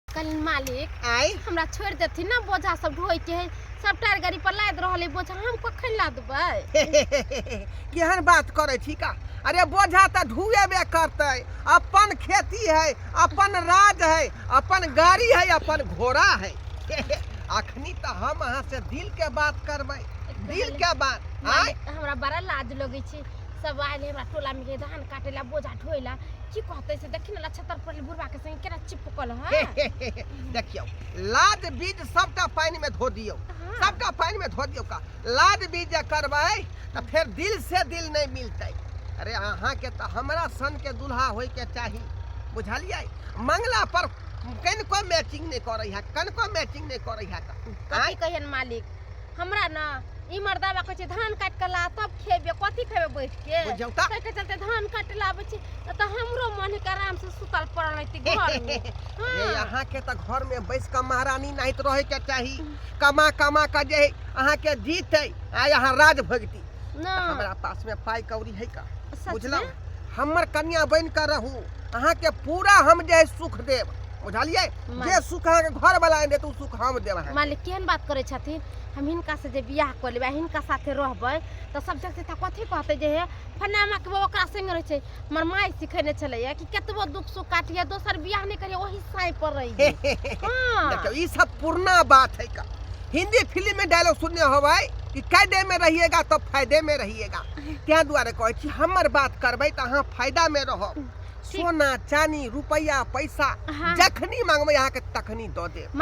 कल मालिक आय हमरा छोड़ देथिन ना बोझा सब ढोए के है सब टायर गाड़ी पर लाद रहल है बोझा हम कखन लादबै केहन बात करे छी का अरे बोझा त ढुएबे करते अपन खेती है अपन राज है अपन गाड़ी है अपन घोड़ा है अखनी त हम अहाँ से दिल के बात करबै दिल के बात आय मालिक, हमरा बड़ा लाज लगै छै सब आयल है हमरा टोला में के धान काटे ला बोझा ढोए ला की कहते से देखी ना तर पर बुढ़वा के संग केना चिपकल ह हे, हे, हे, हे, देखियौ लाद बीज सबटा पानि में धो दियौ हाँ। सबटा पानि में धो दियौ का लाद बीज जे करबै तऽ फेर दिल से दिल नहि मिलतै अरे अहाँके तऽ हमरा सन के दुल्हा होय के चाही बुझलियै मंगला पर कनिको मैचिंग नहि करै है कनिको मैचिंग नहि करै है तऽ कथी कहियन मालिक हमरा ना ई मर्दावा कहै छै धान काट के ला तब खेबे कथी खेबे बैठ के बुझ जाऊ का? तै के चलते धान काट लाबै छी त त हमरो मन के आराम से सुतल पड़ल रहती घर में ये हाँ। यहाँ के तो घर में बैस के महारानी नहीं तो रहे के चाही कमा कमा के जे है, अहाँ के जीत है आ यहाँ राज भगती ना हमरा पास में पाई कौड़ी है का सच बुझलहुँ में? हमर कन्या बन के रहू अहाँ के पूरा हम जे है सुख देब बुझलियै मालिक। जे सुख अहाँके घर वाला आनि देत ओ सुख हम देब अहाँके मालिक केहन बात करै छथिन हम हिनका से जे बियाह कऽ लेबै आ हिनका साथे रहबै तऽ सब जगह तऽ कथी कहतै जे हे फनामा के बहू ओकरा संगे रहै छै हमर माय सिखेने छलैया कि कतबो दुख सुख काटिए दोसर बियाह नहि करिए ओही साँइ पर रहिए हँ देखियो ई सब पुरना बात है का हिंदी फिल्म में डायलॉग सुनने होबै कि कैदे में रहिएगा तो फायदे में रहिएगा तैं दुआरे कहै छी हमर बात करबै तऽ अहाँ फायदा में रहब सोना चानी रुपैआ पैसा जखनी माँगबै अहाँके तखनी दऽ देब